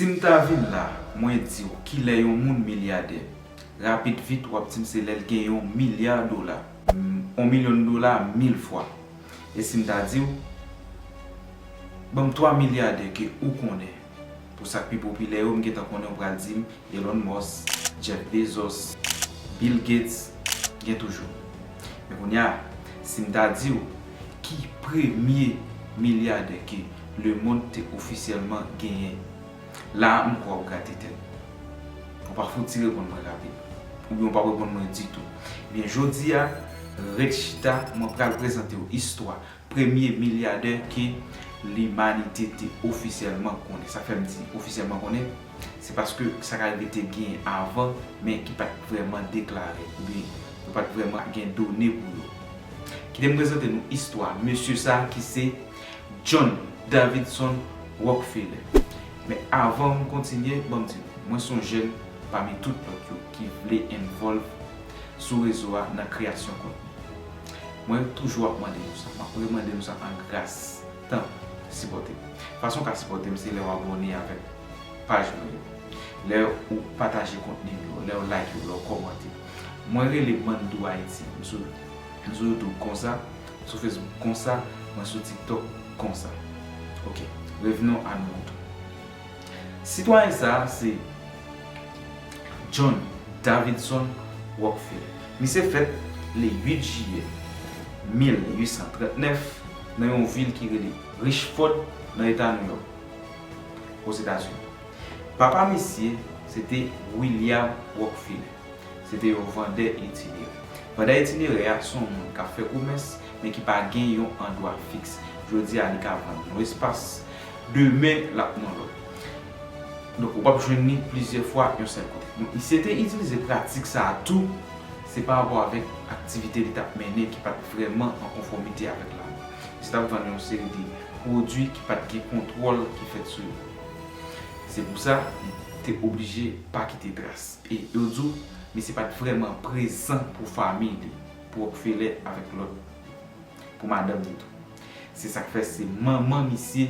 Sim ta vin la mwen diw kilè yon moun milyadè rapid vit wap dim se lèl gen yon milya dola. On milyon dola mil fwa. E sim ta diw banm 3 milyadè ke ou konnen pou sak pi popilè yo m gentan konnen ou pral dim Elon Musk, Jeff Bezos, Bill Gates gen toujou. Men kounya sim ta diw ki premye milyadè ke Lemond te ofisyèlman genyen. La a m kwè w gate tèt ou. Ou pa fouti reponn mwen rapid. Oubyen ou pa reponn mwen ditou. Ebyen jodi a, ret chita, mwen pral prezante w istwa premye milyadè ke limanite te ofisyèlman konnen. Sa k fè m di ofisyèlman konnen, se paske sa k arive te genyen avan, men ki pa t vrèman deklare, oubyen yo pa t vrèman gen done pou yo. Kite m prezante nou istwa mesye sa ki se. John Davidson Rockefeller. Men avan m kontinye, ban m di nou, mwen s on jèn pami tout lòt yo ki vle envolve sou rezo a nan kreyasyon kontni. Mwen toujou ap mande nou sa, m ap remande nou sa an gras, tanpri, sipòte m. Fason w ka sipòte m se lè w abòne avèk paj mwen yo, lè ou pataje kontni m yo, lè ou like yo, lè ou kòmante. Mwen rele Mandou Haiti, m sou Youtube konsa. Sou Facebook konsa, mwen sou TikTok konsa. Ok, revenons à nos moutons. Sitwayen sa a se John Davidson Rockfeller. Misye fèt le 8 jiyè 1839 nan yon vil ki rele Richford nan eta New York, Ozetazini. Papa misye se te William Rockfeller. Se te yon vandè itinere. Vandè itinere a se yon moun k ap fè komès men ki pa gen yon andwa fiks. Jodi a li ka vann yon espas, demen l ap nan lòt. Donk ou pa p jwenn li plizyè fwa yon sèl kote. Donk misye te itilize pratik sa a tou, se pa rapò avèk aktivite li t ap mennen ki pa t vrèman an konfòmite avèk lalwa. Misye t ap vann yon seri de pwodui ki pa t gen kontwòl ki fèt sou yo. Se pou sa li te oblije pa kite tras. E yo di w mesye pa t vrèman prezan pou fanmiy li, pou Rockefeller avèk lòt, pou madanm li tou. Se sa k fè se manman misye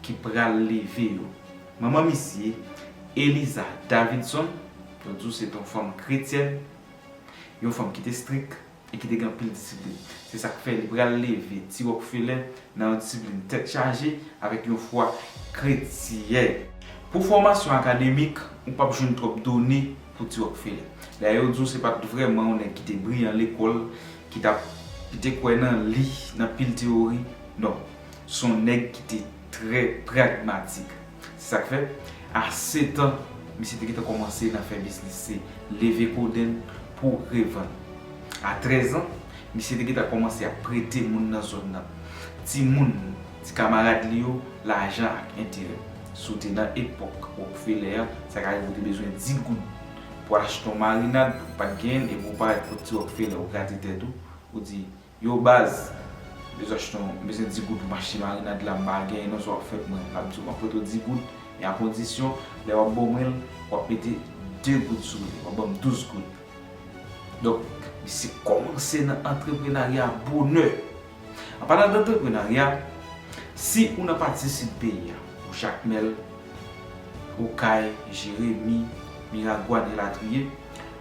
ki pral leve yo. Manman misye, Eliza Davidson, yo di w se t on fanm kretyèn, yon fanm ki te strik. e ki te gen anpil disiplin. Se sa k fè li pral leve ti Rokfelen nan yon disiplin tèt chaje avèk yon fwa kretyen. Pou fòmasyon akademik, ou pap jwenn twòp done pou ti Rokfelen. Dayè yo di w se pa t vrèman yon nèg ki te briyan lekòl, ki t ap ki te kwè nan li, nan pil teyori. Non. S on nèg ki te trè pragmatik. Se sa k fè, a setan, misye te gentan kòmanse nan fè biznis se leve kodenn pou revann. A trèzan, misye te gentan kòmanse ap prete moun nan zòn nan, timoun, ti kamarad li yo, lajan ak enterè. Si w te nan epòk Rokfelè a, sa ka rive w te bezwen di goud pou w achte yon marinad, ou pa t genyen l, epi w parèt kot ti Rokfelè, ou grate tèt ou, ou di, Yow baz, m bezw achte yon, m bezwen 10 goud pou m achte marinad la, m pa genyen non sa wap fè pou mwen, lap diw map prete w 10 goud, men a kondisyon lè wap ban mwen l, wap mete 2 goud sou li, wap banm 12 goud. Donk, misye kòmanse nan antreprenarya a bonè. An palan dantreprenarya, si ou nan pati sid peyi a, ou Jakmèl, Okay, Jeremi, Miragwàn elatriye,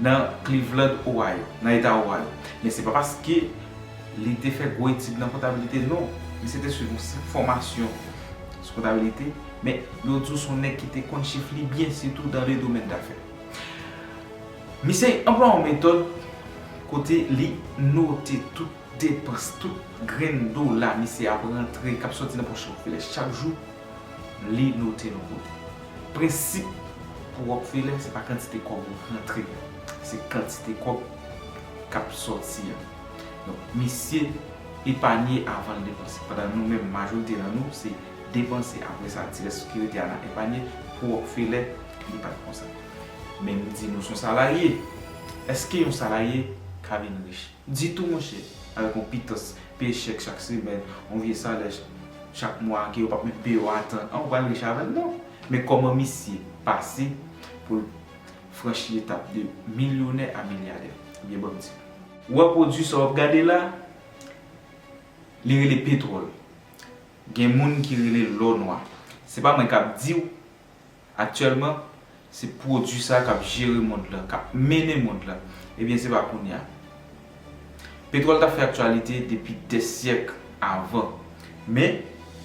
nan Cleveland, Ohio, nan eta Ohio. Men se pa paske li te fè gwo etid nan kontabilite non, misye te swiv yon senp fòmasyon sou kontabilite, men yo di w se yon nèg ki te konn chif li byen sitou dan le domèn dafè. Misye anplwa yon metòd kote li note tout depans, tout grenn dola misye ap rantre, k ap soti nan pòch Rockefeller chak jou, li note l yon kote. Prensip pou Rockefeller se pa kantite kòb ou rantre, se kantite kòb kap sòti a. Donk misye epanye avan l depanse. Pandan nou menm majorite nan nou se depanse apre sa ti rès ki rete a na epanye, pou Rockefeller li pat konsa. Men m di nou son salarye, eske yon salarye ka vin rich? Ditou monchè, avèk yon pitans, peye chèk chak semèn, yon vye salè chak mwa ke yo pap menm peye w atan an, ou pral rich avè l non. Men kòman misye pase pou l franchi etap de milyonè a milyadè? Ebyen banm di nou. Ou wè pwodui sa w ap gade la, li rele petwòl. Gen moun ki rele l lò nwa. Se pa mwen k ap di w. Aktyèlman, se pwodui sa k ap jere mond lan, k ap mennen mond lan. Ebyen, se pa kounye a. Petwòl t ap fè aktyalite depi dè syèk avan. Men,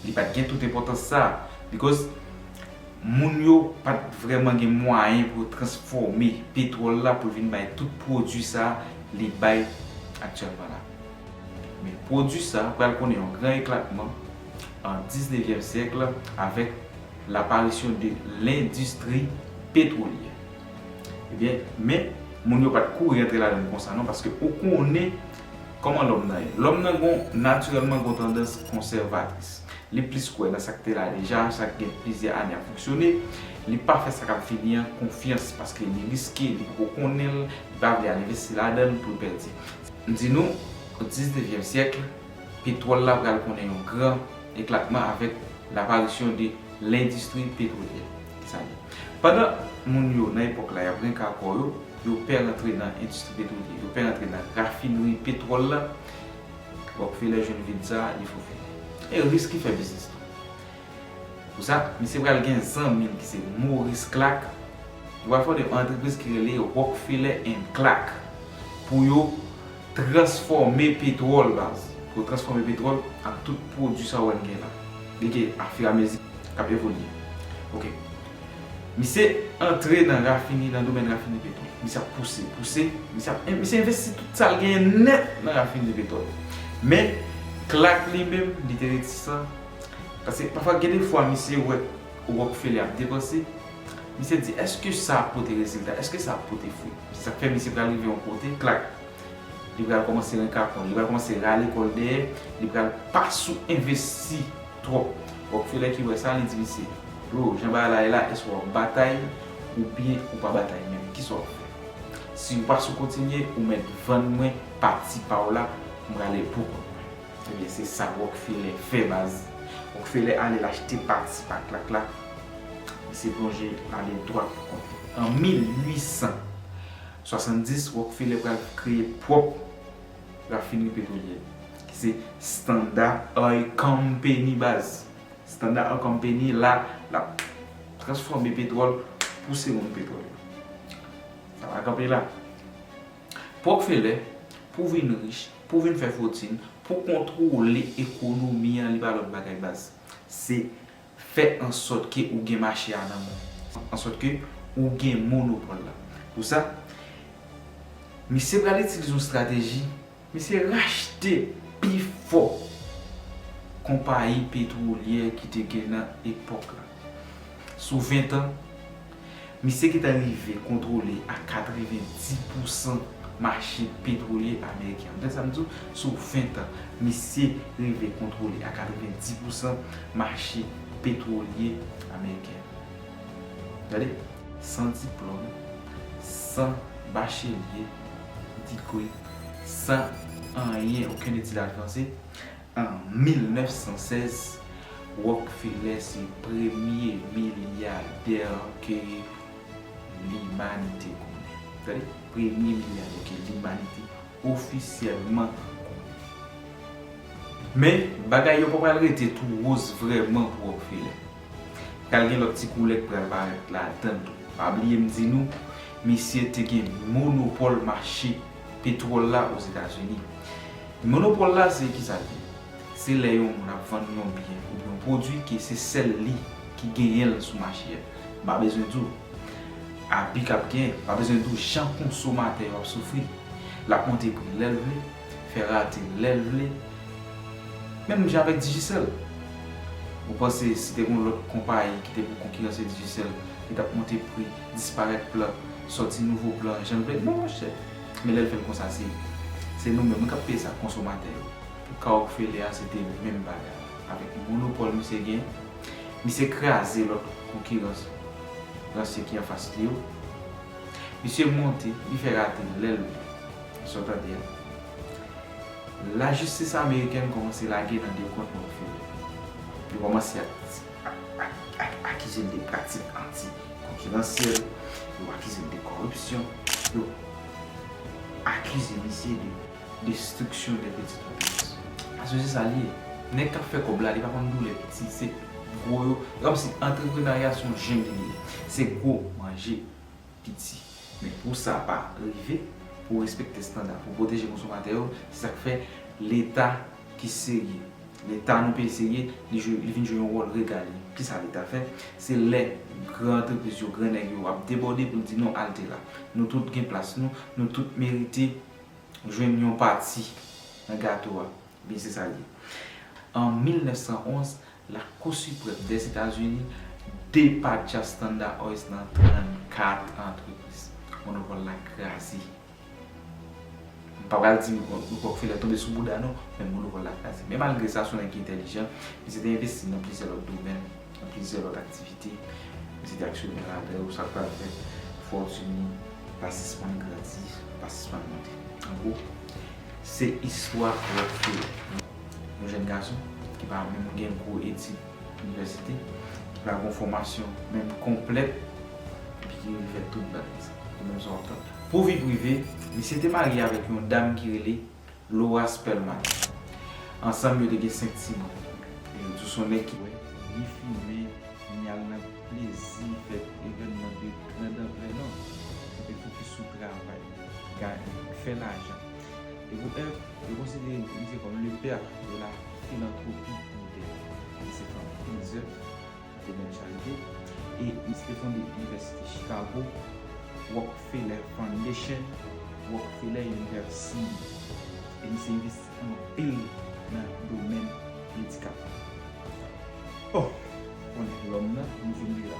li pa t gen tout enpòtans sa a. Bikòz, moun yo pa t vrèman gen mwayen pou yo transfòme petwòl la pou l vin bay tout pwodui sa li bay aktyèlman la. Men, pwodui sa pral konnen yon gran eklatman an diznevyèm syèk la avèk L'apparition de l'industrie pétrolière. Ebyen, men, moun yo pa t kouri antre ladan l konsa non, paske ou konnen kòman lòm nan ye. Lòm nan gon, natirèlman gon tandans konsèvatris. Li plis kwè nan sa k te la deja, sa k gen plizyè ane ap fonksyone. Li pa fè sa k ap vini an konfyans, paske li riske, li poko konnen l, li pa vle al envesti ladan l pou l pèdi. M di nou, diznevyèm syèkl, petwòl la pral konnen yon gran eklatman avèk laparisyon de lendistri petwolyè. Sa vle. Pandan moun yo nan epòk la y ap renka kò yo, yo pè rantre nan endistri petwolyè, yo pè rantre nan rafinri petwòl la, Rockefeller jwenn vid sa a, li fofile. E Risk ki fè biznis lan. Pou sa, misye pral gen zanmi l ki se Maurice Clark, yo pral fonde yon antrepriz ki rele Rockefeller and Clark pou yo Transfòme petwòl baz. Pou transfòme petwòl ak tout pwodui sa ou wè n gen la. Li gen afiramezi k ap evolye. Ok. Misye antre nan rafini, nan domèn rafini petwòl. Misye ap pouse, pouse. Misye ap, misye envesti tout sa l genyen nèt nan rafini petwòl. Men, Clark li menm, li te retisan. Pase pafwa gen de fwa misye wè Rockefeller ap depanse. Misye di, èske sa ap pote rezilta? Èske sa ap pote fwi? Se sa k fè misye pral rive yon kote, klak, li pral kòmanse renkapon, li pral kòmanse rale kò l dèyè, li pral pa sou envesti twòp. Rockefeller ki wè sa, li di misye, Bro, jan bagay la ye la, èske w ap batay oubyen ou pa batay menm? Ki sa w ap fè? Si ou pa sou kontinye, ou mèt vann mwen pati pa w la pou m rale l pou kont mwen. Ebyen se sa Rockefeller fè baz. Rockefeller ale l achte pati pa Clark la. Misye plonje l ale dwat pou kont li. An 1870, Rockefeller pral kreye pwòp rafinri petwolyè li, ki se Standard Oil Company baz. Standard Oil Company la, l ap transfòme petwòl, pouse moun petwòl yo. Sa pa kanpe la. Pwokfelè, pou vin rich, pou vin fè fotin, pou kontwole ekonomi an li pa lòt bagay baz. Se fè ansòt ke ou gen mache a nan men ou. Ansòt ke ou gen monopòl la. Pou sa, misye pral itilize yon strateji, misye rachte pi fò konpayi petwolyè ki te gen nan epòk la. Sou ventan. Misye ki ta rive kontwole a 90 pousan mache petwolye ameriken an. Gade sa m di w, sou 20 tan, misye rive kontwole a 90 pousan mache petwolye ameriken an. Gade, san diplòm, san bachelye, degree, san anyen, okenn etid advanse, An 1916, Rockefeller se premye milyadè ke limanite konnen. Tande, premye milyadè ke limanite ofisyèlman konnen. Men, bagay yo pa pral rete tou woz vrèman pou Rockefeller. Pral gen lòt ti koulè ki pral parèt ladann tou. Pa bliye m di nou, misye te gen monopòl mache petwòl la Ozetazini. Monopòl la se kisa l ye? Se lè yon moun ap vann yon byen oubyen yon pwodui ke se sèl li ki genyen l sou mache a. M pa bezwen di w abi k ap genyen, m pa bezwen di w jan konsomatè yo ap soufri. L ap monte pri lè l vle, fè rate lè l vle, menm jan avèk Digicel. Ou panse si te gen yon lòt konpayi ki te pou konkiranse Digicel, li t ap monte pri, disparèt plan, sòti nouvo plan jan l vle? Non monchè! Men lèl fèl konsa se se nou menm wi kap peye sa konsomatè yo. Pou ka Rockefeller a se te menm bagay la. Avèk monopòl misye gen, misye kraze lòt konkiran ransye ki anfas li yo. Misye monte, li fè rate lèl vle. Sa w tande a. Lajistis amerikèn kòmanse lage nan dekont Rockefeller. Yo kòmanse ak akize l de pratik anti-konkiransyèl, yo akize l de kòripsyon, yo akize misye de destriksyon de pitit antrepris. Paske se sa l ye. Nèg k ap fè kòb la, li pa konn doulè piti. Se gwo yo. Se kòmsi antreprenarya se yon jengli li ye. Se gwo manje. piti. Men pou sa pa rive, pou w respekte standa, pou w pwoteje konsomatè yo, se sa k fè Leta ki serye, Leta nou peyi serye, li jwe, li vin jwe yon wòl regalye. Ki sa Leta fè? Se lè gran antrepriz yo, gran nèg yo ap debòde pou l di non alte la. Nou tout gen plas nou, nou tout merite jwenn yon pati nan gato a. Ebyen se sa l ye. An 1911, Lakou Siprèm Dèzetazini depatcha Standard Oils nan 34 antrepriz. Monopòl la kraze. M pa pral di Rockefeller tonbe sou bouda non, men monopòl la kraze. Men malgre sa, se yon nèg ki entèlijan. Misye te envesti nan plizyè lòt domèn, nan plizyè lòt aktivite. Misye te aksyonè ladan yo. Sa k pral fè fòtin li pa sispann grandi, pa sispann monte. An gwo. Se istwa Rotfeo, yon jèn gason ki pa menm gen gwo etid inivèsite, ki pa gon fòmasyon menm konplèt epi ki rive fè tout bèl visa. Se menm sa w ap tande la. Pou vi prive, misye te marye avèk yon dam ki rele Laura Spellman. Ansanm yo te gen 5 timoun. E yo di w s on nèg ki. Bwè, ni fimen, ni al nan plezi, fè evènman de grand anplè non. Li te fokis sou travay li. Guy fè lajan. E pou Èv, yo konsidere misye kòm le père de la philanthropie on tè. Li se fè anpil zèv nan domèn charite e misye te fonde Inivèsite Chicago, Rockefeller Foundation, Rockefeller Universiy. E misye envesti anpil nan domèn medikal. Bon! Konnen lòm nan, nou vin li la.